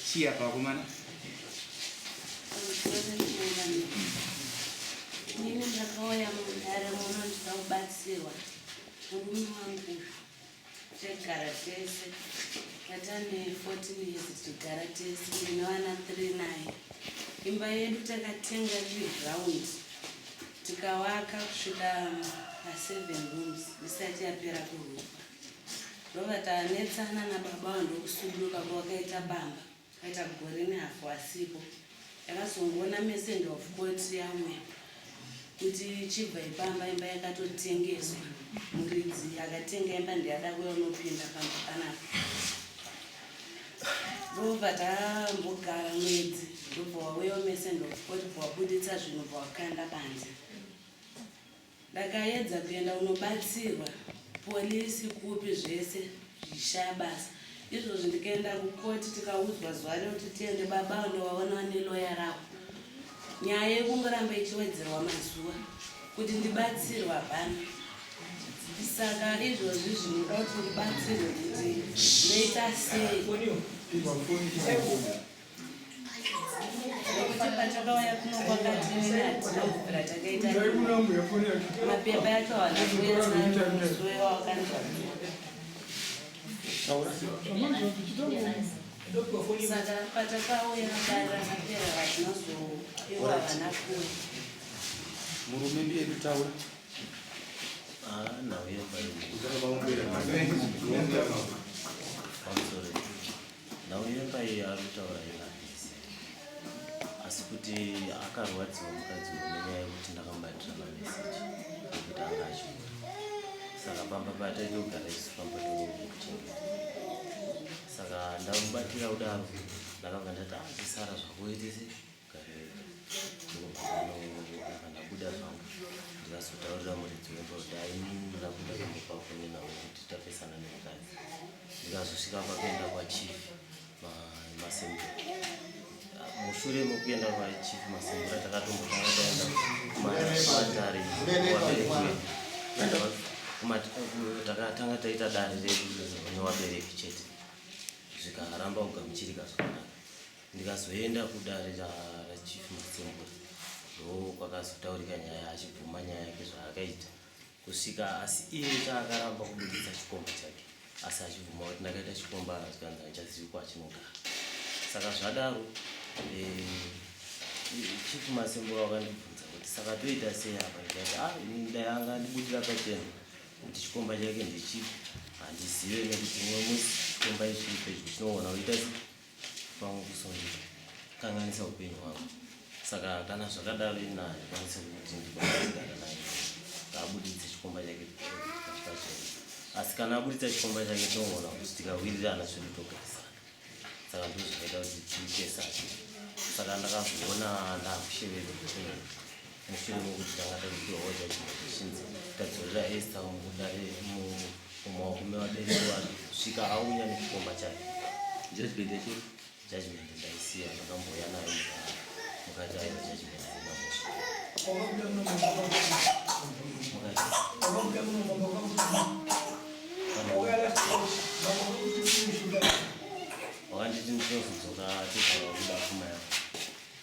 Chia pakumana. Nini ndakauya mudare muno ndida kubatsirwa murume wangu tegara tese tatane 14 years tigara tese ndine vana 3 naye imba yedu takatenga ive ground Tikawaka kusvika pa seven rooms isati yapera kurukwa ndobva tanetsana nababa avo ndokusuduka ko wakaita bamba kaita gore nehafu asipo yakazongoona messenger of court yauya kuti chibva ipamba imba yakatotengeswa muridzi akatenga imba ndiyada kuya unopinda pamba panapa ndobva tambogara mwedzi ndobva wauya umese ndokoti bva wabuditsa zvinhu bva wakanda panze ndakaedza kuenda unobatsirwa polisi kupi zvese zvichishaya basa izvozvi ndikaenda kukoti tikaudzwa zuva rekuti tiende baba unovaona neloya ravo Nyaya yekungoramba ichiwedzerwa mazuva kuti ndibatsirwe hapana. Saka izvozvi zvinoda kuti ndibatsirwe kuti ndoita sei. Nekuti patakauya kuno kwakatiinatinokugira takaita mapepa yacho haana kuenzana musuwe wakanzwa. Saka patakauya mudara mapera vazinozopiwa vana kuwe. Murume ndiye kutaura. Ah, now we have I'm sorry. Now we have a arutaura ina. Asi kuti akarwadziwa mukadzi wenyaya yekuti ndakambatira mameseji ekuti anga achiuya. Saka pamba pataitogara isu pamba tokuchengeta. saka ndamubatira kudaro ndakabva ndati azvisara zvakuitisi ndabuda zvangu ndikazotaurira muridzi wemba kuti aininoda kuda kumbopa foni navo kuti tapesana nemukadzi ndikazosvika pakuenda kwachief masembe mushure mekuenda kwachief masembura takatombotanga taenda kumatare takatanga taita dare redu nevabereki chete zvikaramba kugamuchirika zvakanaka ndikazoenda kudare rachief masembura ndo kwakazotaurika nyaya achibvuma nyaya yake zvaakaita kusvika asi iye chaakaramba kubuditsa chikomba chake asi achibvuma kuti ndakaita chikomba zvikanzi handichazivi kwachinogara saka zvadaro eh, chief masembura wakandibvunza kuti saka toita sei apa ndikati a ah, ini dai anga andibudira pachena kuti chikomba chake ndechipi handizive nekuti mumwe musi chikomba ichipe chinoona uita pamwe kusungika kanganisa upenyu hwako saka kana zvakadaro ina ndikwanise kuti ndikwanisiana naye ngaabuditse chikomba chake pachipachena asi kana abuditsa chikomba chake toona kuti tikawirirana zvedu togarisana saka ndo zvakaita kuti tiitesake saka ndakazoona ndakushevedza mushure mokuti tanga tazopiwawo judgment zvichinzi tadzorera esta mudare mumaoko mevabereki vanhu svika aunya nekukomba chake judgment yacho judgment ndaisiya ndakambouya nayo mukati ayo judgment wakanditi ndinozodzoka tezvaakuda pfuma yako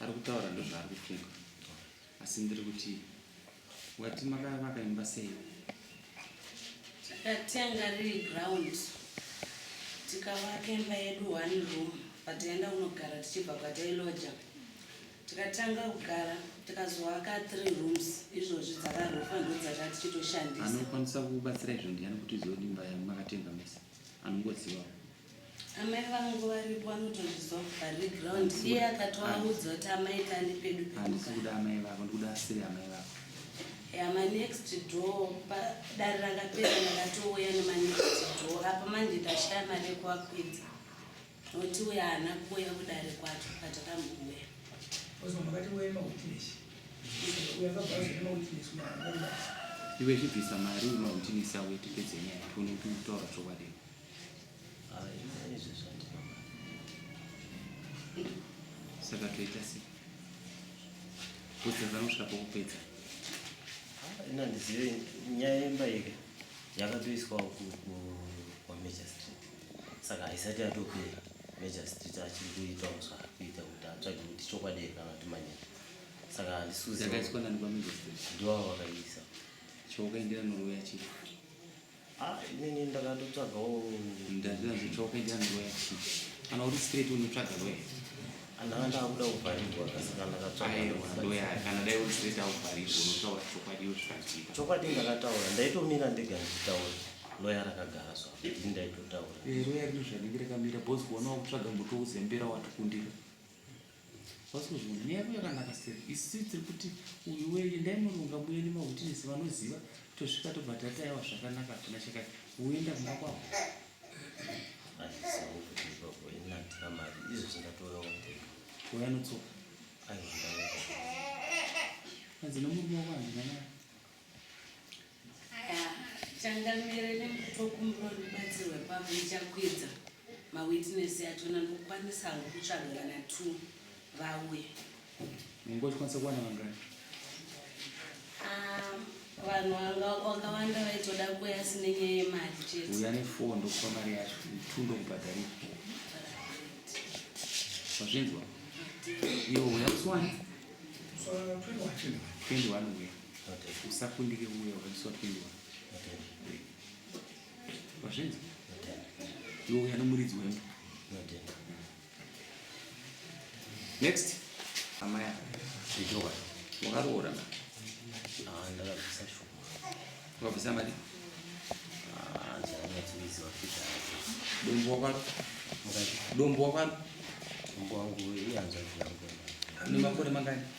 ari kutaura ndozvaari kufunga asi ndiri kuti wati makaya makaimba sei takatenga riri ground tikavaka imba yedu one room pataenda kunogara tichibva kwatailoja tikatanga kugara tikazoaka three rooms izvozvi dzakarofa ndodzata tichitoshandisa anokwanisa kubatsira izvo ndiani kuti zodimba yamakatenga mese anongozivawo amai vangu varipo vanotozvizwa vari ground iye akatovaudza kuti amai kani pedu handisi kuda amai vako ndikuda asiri amai vako yama next door padare rakapera ndakatouya nemanext door apa manje ndashaya mari yekuvakwidza noti uya haana kuuya kudare kwacho kwatakambuuya iwe chibvisa mari mautinisi avo tipedze nyaya tione kutaura chokwadi saka toita sei kudzidza kusvika pokupedza ina ndizive nyaya yemba yeke yakatoiswawo kwamajor street saka haisati yatopera major street achiri kuita muswa kuita kuti atsvage kuti chokwadi here kana kuti manyaya saka handisuziakaiswa nani kwamajor street ndiwavo vakaisa chookaendera norweyachii Ah, inini ndakatotsvagawo ndazvira zvitsva ukaita ndoya kana uri straight unotsvaga loya ndanga ndakuda kuvharirwa kasaka ndakatsvagaoya kana dai uri straight akuvharirwa unotaura chokwadi iyo zvikaitika chokwadi ndakataura ndaitomira ndega ndichitaura loya rakagara so ini ndaitotaura eh, loya rino zvanenge rakamira bos kuonawo kutsvaga muto uzembera watikundira What's going on? Nyaya yakanaka seri. Isi tiri kuti uyu weye ndaimurunga muyeni mahutinisi vanoziva tosvika tobva tatayawa zvakanaka hapana chakati woenda kumba kwavo. Achisawo kuti ipapo inatira mari izvo zvingatoonawo kuti uyo anotsoka. Aizvitawo. Hanzi nomurume wako handina naye. changamire nemkutokumbirawo ndibatsirwe pavo ndichakwidza mawitness yacho nandokwanisa hangu kutsvaga vana t vauye ngozvikwanisa kuwana vangani ah, vanhu wakawanda vaitoda kuya asine nyaya yemari chete uya nefoo ndokupa mari yacho t ndokubhadhari wazvinzwa iwo uya kusiwani 21 uya usakundike uya wakachiswapindiwa wazvinzi iwe uya nomuridzi wemba next amai ijoa wakaroora na ah, ndakabvisa shoma wakabvisa mari ah, dombo wakwaro dombo wakwaro dombo wangu iyanzwa zviyangu nemakore mangani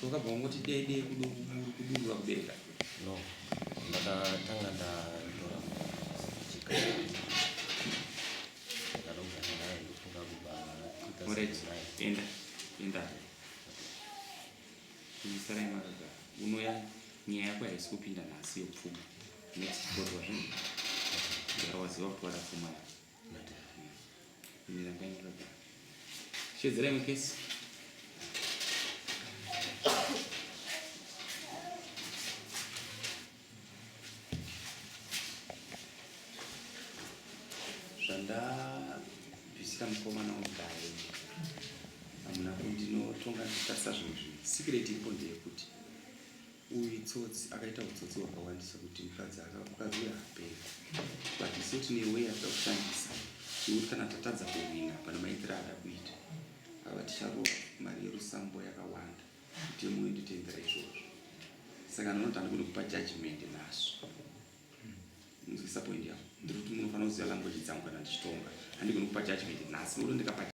Sokabva wangoti dei dei kudurura kudenga. No. Ndakatanga ndatora chika. Ndakaroga naye ndofunga kubva kuita Alright, sekunaya. enda. Enda. Kuisarai makaga. Unoya nyaya yako haisi kupinda nhasi yopfuma. Next board wazvinhu. Ndikawaziva kuti wada pfuma yako. Shedzera imwe kesi. Zvandabvisira mukomana ugaye hamuna kundinotonga ndichitarisa zvimwe zvinhu sikireti iripo ndeyekuti Uyu itsotsi akaita utsotsi hwakawandisa kuti mukadzi mukadzi uyu haperi but isu tine way yatida kushandisa tikuti kana tatadza kuhwina pane maitiro ada kuita ava ticharova mari yerusambo yakawanda kuti yemwe nditendera izvozvo saka ndinoti andigoni kupa judgment nazvo nzwisa point yavo ndiri kuti munofanira kuziva language dzangu kana ndichitonga handigoni kupa judgment nhasi nokuti ndikapa